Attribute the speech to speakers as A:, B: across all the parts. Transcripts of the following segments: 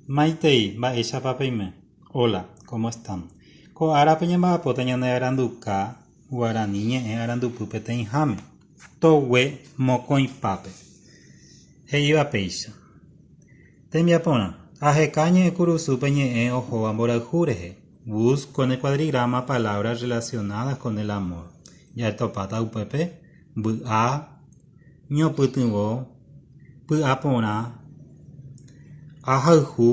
A: Maitei, mba'éichapa peime? Hola, ¿cómo están? Ko árape ñamba'apóta ñane aranduka guarani ñe'ẽ arandupy peteĩháme, togue mokõipápe. He'íva péicha. Tembiaporã, aheka ñe'ẽkurusúpe ñe'ẽ ohóva mborayhu rehe, busco en el cuadrigrama palabras relacionadas con el amor. Jaetopáta upépe, mby'a, ñopytyvõ, py'aporã, ahayhu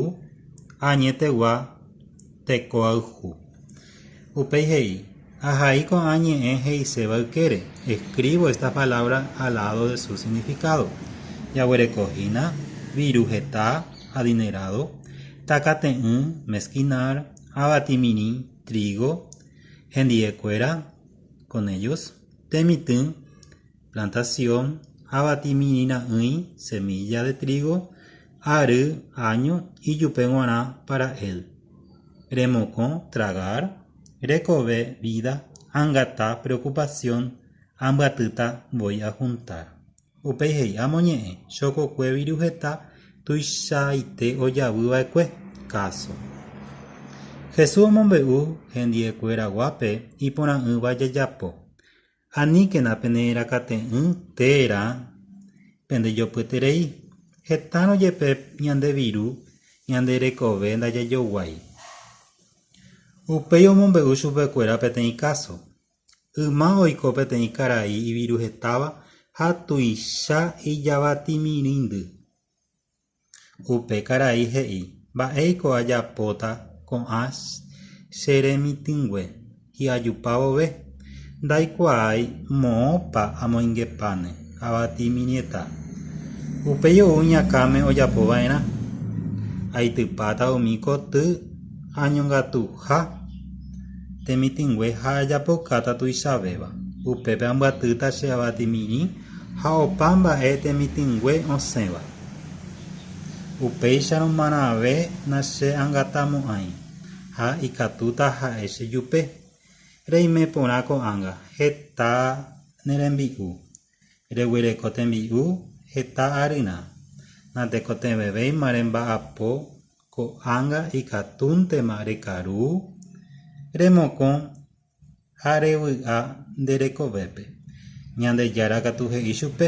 A: ha añetegua tekoayhu. Upéi he'i, Ahai ko'ã ñe'ẽ he'iséva ykére, escribo estas palabras al lado de su significado. Jaguereko hína, viru heta, adinerado, takate'ỹ, mezquinar, avatimirĩ, trigo, hendi'ekuéra, con ellos, temitỹ, plantasión avatiminira'ỹi semílla de trígo ary áño ijupe g̃uarã pára el, remokõ tragar, rekove vída angata preokupasión ambyatýta voi ahuntar. Upéi he'i, Amoñe'ẽ, chokokue viru heta tuichaite ojavy va'ekue, káso. Jesús omombe'u hendiekueraguápe iporã'ỹva jajapo. Aníkena pene'ẽrakate'ỹ térã pendejopyeterei, hetárõ jepe ñande viru ñande rekove ndajajoguái. Upéi omombe'u chupekuéra peteĩ káso. Yma oiko peteĩ karai iviruhetáva ha tuicha ijavatimirĩndy. Upe karai he'i, Mba'éiko ajapóta ko'ã che remitỹngue hi'ajupa vove? Ndaikuaái moõpa amoingepáne avati iñmiñeta. Upéi ou iñakãme ojapo va'erã. Aitypáta umi koty añongatuha temitỹngue ha ajapokáta tuichavéva. Upépe ambyatýta che avati mirĩ. Ha opa mba'e temitỹngue osẽva. Upéicharõ marãve nache'angatamo'ãi, ha ikatúta ha'e chejupe, Reime porã ko'ág̃a heta ne rembi'u, reguereko tembi'u heta aryrã, natekotevẽvéima remba'apo ko'ág̃a ikatúntema rekaru, remokõ ha revy'a nde rekovépe. Ñandejára katu he'i chupe,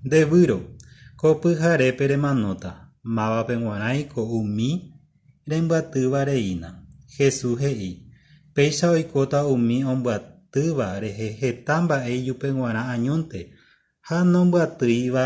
A: Nde výro, ko pyharépe remanóta, mávape guarãi ko umi rembyatýva reína. Jesús he'i, Péicha oikóta umi ombyatýva rehe heta mba'e ijupe guarã añónte ha nombyatýiva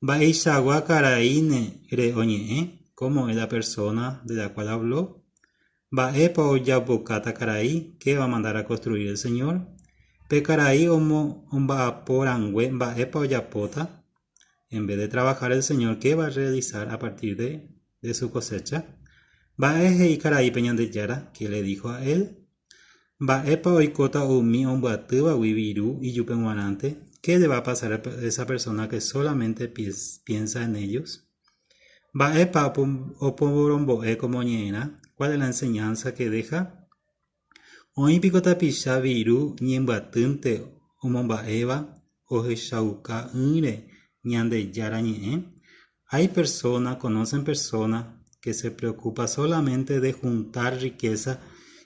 A: Mba'eichagua karaíne re oñe'ẽ, cómo es la persona de la cual habló, mba'épa ojapokáta karai, qué va a mandar a construir el Señor, pe karai omba'apo rangue mba'épa ojapóta, en vez de trabajar el Señor qué va a realizar a partir de su cosecha, mba'e he'i karai pe Ñandejára, qué le dijo a él, Mba'épa oikóta umi ombyatývagui viru ijupe g̃uarãnte? Qué le va a pasar a esa persona que solamente piensa en ellos? Mba'épa opovorombo'e ko moñe'ẽrã? Cuál es la enseñanza que deja? Oĩ piko tapicha viru ñembyatýnte omomba'éva ohechauka'ỹre Ñandejára Ñe'ẽ? Hay persona, conocen persona, que se preocupa solamente de juntar riqueza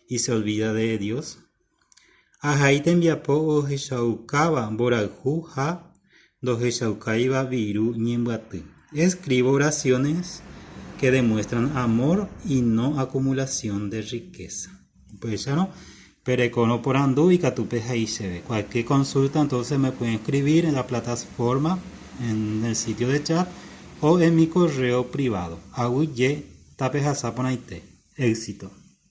A: y se olvida de Dios? Ahai tembiapo ohechaukáva mborayhu ha ndohechaukáiva viru ñembyaty. Escribo oraciones que demuestran amor y no acumulación de riqueza. Upéicharõ, pe rekorõ porandu ikatu pe he'i chéve. Cualquier consulta entonces me pueden escribir en la plataforma, en el sitio de chat o en mi correo privado. Aguije tapehasa porãite. Éxito.